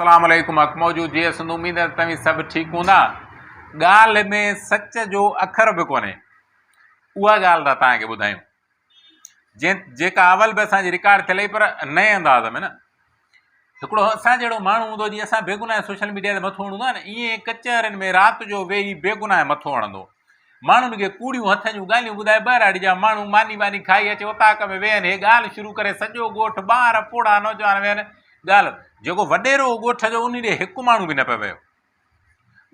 اسلام عليڪم حق موجود جي اسند اميد آهي توهين سڀ ٺيڪ هوندا ڳالهه ۾ سچ جو اکر به ڪونهي اها ڳالهه ته تهان کي ٻڌايون جنهن جيڪا اول به اسان جي رڪارڊ ٿيل پر نئين انداز ۾ نه هڪڙو اسان جهڙو ماڻهو هوندو جي اسان بيگناهه سوشل ميڊيا تي مٿو هڻندو آهي نه ائين ڪچهرين ۾ رات جو ويهي بيگناهه مٿو هڻندو ماڻهن کي ڪوڙيون هٿ جون ڳالهيون ٻڌائي ٻهراڙي جا ماڻهو ماني واني کائي اچي اوطاق ۾ ويهن هي ڳالهه شروع ڪري سڄو ڳوٺ ٻار پوڙها نوجوان ويهن ڳالهه جيڪو وڏيرو هو ڳوٺ جو ان ڏي هڪ ماڻهو به نه پيو ويو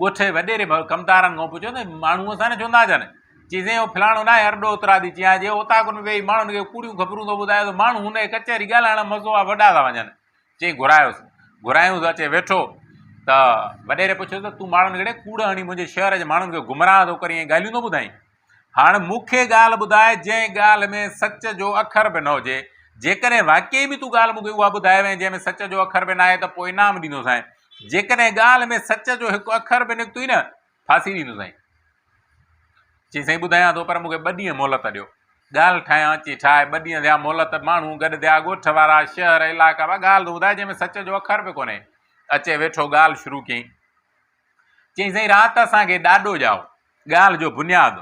ڳوٺ جي وڏيري ڪمدارن کان پڇيو ته ماڻهو اسان نه چوندا جن چي سائين اهو فلاڻو نه آهي ارڏو اترا ٿي چيان جي اوطاقن ۾ ويهي ماڻهن کي ڪوڙيون خبرون ٿو ٻڌايو ته ماڻهو هن کي ڪچهري ڳالهائڻ مزو آ وڏا ٿا وڃن چيائين گهرايوس، گهرايوس اچي ويٺو ته وڏيري پڇيو ته تون ماڻهن ڪيڙي ڪوڙ هڻي منهنجي شهر جي ماڻهن کي گمراهه ٿو ڪرين ۽ ڳالهيون ٿو ٻڌائين؟ هاڻ مون کي ڳالهه ٻڌاء جنهن ڳالهه ۾ سچ جو اکر به نه هجي، جيڪڏهن واقعي به تون ڳالهه مون کي اها ٻڌائي وئين جنهن ۾ سچ جو اکر به ناهي ته پوء انعام ڏيندوسانء، جيڪڏهن ڳالهه ۾ سچ جو هڪ اکر به نڪتوئي نه ڦاسي ڏيندو سائين. چي سائين ٻڌايان ٿو پر مون کي ٻه ڏينهن مهلت ڏيو. ڳالهه ٺاهيان. چي ٺاهه ٻه ڏينهن ٿيا مهلت ماڻهو گڏ ٿيا ڳوٺ وارا شهر علائقا وا ڳالهه ته ٻڌاء جنهن ۾ سچ جو اکر به ڪونهي. اچي ويٺو ڳالهه شروع ڪيائين. چيائين سائين رات اسان کي ڏاڏو ڄائو. ڳالهه جو بنياد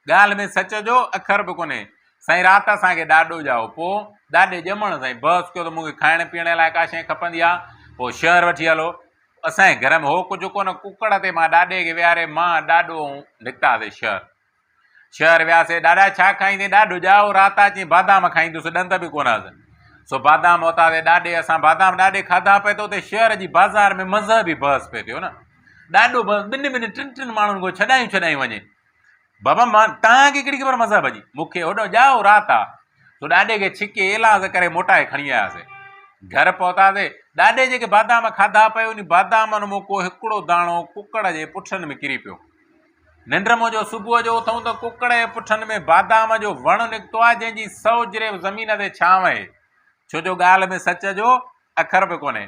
ڳالهه ۾ سچ جو اکر به ڪونهي. سائين رات اسان کي ڏاڏو ڄائو. پوء ڏاڏي ڄمڻ سائين بحث ڪيو ته مون کي کائڻ پيئڻ لاء ڪا شيء کپندي آ. پوء شهر وٺي هلو. اسان جي گهر ۾ هو ڪجهه ڪونه. ڪڪڙ تي مان ڏاڏي کي ويهاري مان، ڏاڏو ۽ نڪتاسين شهر. شهر وياسين. ڏاڏا ڇا کائيندين؟ ڏاڏو ڄائو. رات اچين بادام کائيندس. ڏند به ڪونه هئس. سو بادام ورتاسين. ڏاڏي اسان بادام ڏاڏي کاڌا پئي ته اتي شهر جي بازار ۾ مذهبي بحث پئي ٿيو نه. ڏاڏو بس ٻن ٻن ٽن ٽن ماڻهن کان ڇڏايون ڇڏايون وڃي بابا ماں تنهن کي ڪهڙي خبر مذهب جي مون کي هوڏو ڄائو رات آ سو ڏاڏي کي ڇڪي ايلاز ڪري موٽائي کڻي آياسي گهر پهتاسي ڏاڏي جيڪي بادام کاڌا پيو انهي بادامن مون ڪو هڪڙو داڻو ڪڪڙ جي پٺن ۾ ڪري پيو ننڊ مون جو صبح جو اٿون ته ڪڪڙ جي پٺن ۾ بادام جو وڻ نڪتو آ جنهن جي سو جريب زمين تي ڇانو آهي ڇو جو ڳالهه ۾ سچ جو اکر به ڪونهي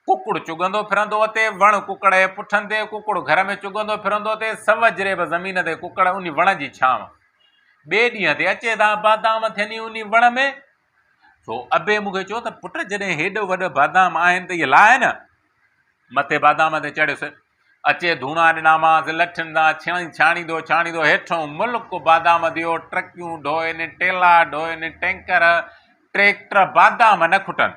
ڪڪڙ چگندو ڦرندو اتي وڻ ڪڪڙ جي پٺن تي ڪڪڙ گهر ۾ چگندو ڦرندو اتي سوجهري به زمين تي ڪڪڙ انهي وڻ جي ڇانو ٻئي ڏينهن تي اچي ٿا بادام ٿيني انهي وڻ ۾ سو ابي مون کي چيو ته پٽ جڏهن هيڏو وڏو بادام آهن ته اهي لاهه نه مٿي بادام تي چڙهيس اچي ڌوڻا ڏنامانس لٺن سان ڇڻي ڇاڻيندو ڇاڻيندو هيٺو ملڪ بادام ديو ٽرڪيون ڍوئن ٽيلا ڍوئن ٽينڪر ٽريڪٽر بادام نه کٽن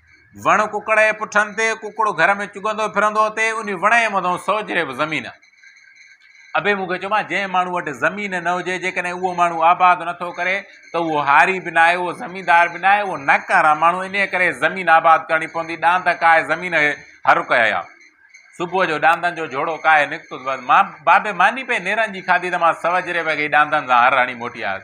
وڻ ڪڪڙ جي پٺن تي، ڪڪڙ گهر ۾ چگندو ڦرندو اٿئي، انهي وڻ جي مٿئون سوجهري به زمين. ابي مون کي چيومانس، جنهن ماڻهو وٽ زمين نه هجي، جيڪڏهن اهو ماڻهو آباد نه ٿو ڪري ته اهو هاري به ناهي، اهو زميندار به ناهي، اهو ناڪاره آ ماڻهو، انهي ڪري زمين آباد ڪرڻي پوندي، ڏاند ڪاهي زمين کي هر ڪيئي آ. صبح جو ڏاندن جو جهوڙو ڪاهي نڪتس، بس مان بابي ماني پئي نيرن جي کاڌي ته مان سوجهري وڳي ڏاندن سان هر هڻي موٽي آيس.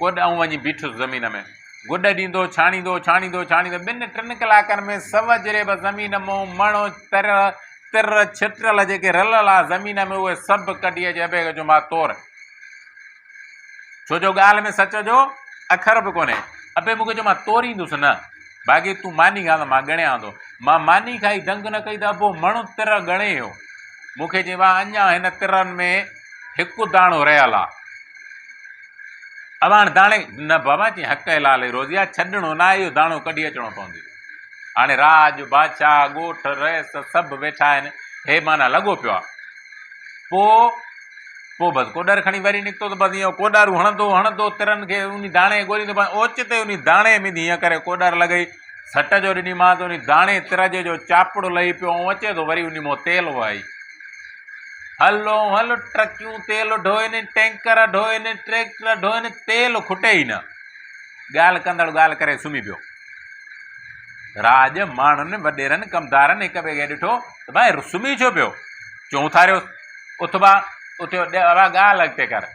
ڪوڏ آئون وڃي بيٺس زمين ۾. گڏ ڏيندو، ڇاڻيندو، ڇاڻيندو، ڇاڻيندو، ٻن ٽن ڪلاڪن ۾ سو جريب زمين مئو، مڻ، تر، تر، ڇٽرل جيڪي رلل آ زمين ۾ اهي سڀ ڪڍي اڄ ابي کي جمعا تور. ڇو جو ڳالهه ۾ سچ جو اکر به ڪونهي. ابي مون کي چيو، مان توريندس نه، باقي تون ماني کاء ته مان ڳڻيان ٿو. مان ماني کائي دنگ نه ڪئي ته ابو مڻ، تر ڳڻي ويو. مون کي چيائين، واهه اڃا هن ترن ۾ هڪ داڻو رهيل آ. اوهان داڻي نه بابا جي حق حلال اي روزي آ ڇڏڻو نه اهو داڻو ڪڍي اچڻو پوندي هاڻي راڄ بادشاهه ڳوٺ رئيس سڀ ويٺا آهن هي معنيٰ لڳو پيو آ پو پو بس ڪوڏر کڻي وري نڪتو ته بس ائين ڪوڏر هڻندو هڻندو ترن کي ان داڻي ڳوليندو اوچتي ان داڻي ۾ هيئن ڪري ڪوڏر لڳئي سٽ جو ڏني مان ته انهي داڻي ترجي جو چاپڙو لهي پيو ۽ اچي ٿو وري انهي مون تيل وهائي. هل او هل ٽرڪيون تيل ڍوئين، ٽينڪر ڍوئين، ٽريڪٽر ڍوئين، تيل کٽي ئي نه. ڳالهه ڪندڙ ڳالهه ڪري سمهي پيو. راڄ ماڻهن وڏيرن ڪمدارن هڪ ٻئي کي ڏٺو ته ڀائي سمهي ڇو پيو؟ چونٿاريوس اٿ ڀا اٿيو ڏي ڀا ڳالهه اڳتي ڪر.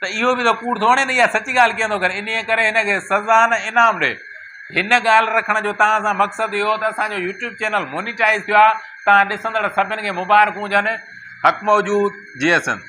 ته اهو به ته ڪوڙ ٿو هڻي نه اها سچ ڳالهه ڪيئن ٿو ڪري انهيء ڪري هن کي سزا نه انعام ڏي هن ڳالهه رکڻ جو توهان سان مقصد اهو ته اسان جو يوٽيوب چينل مونيٽائز ٿيو آهي توهان ڏسندڙ سڀن کي مبارڪون هجن حق موجود جي ايس ايم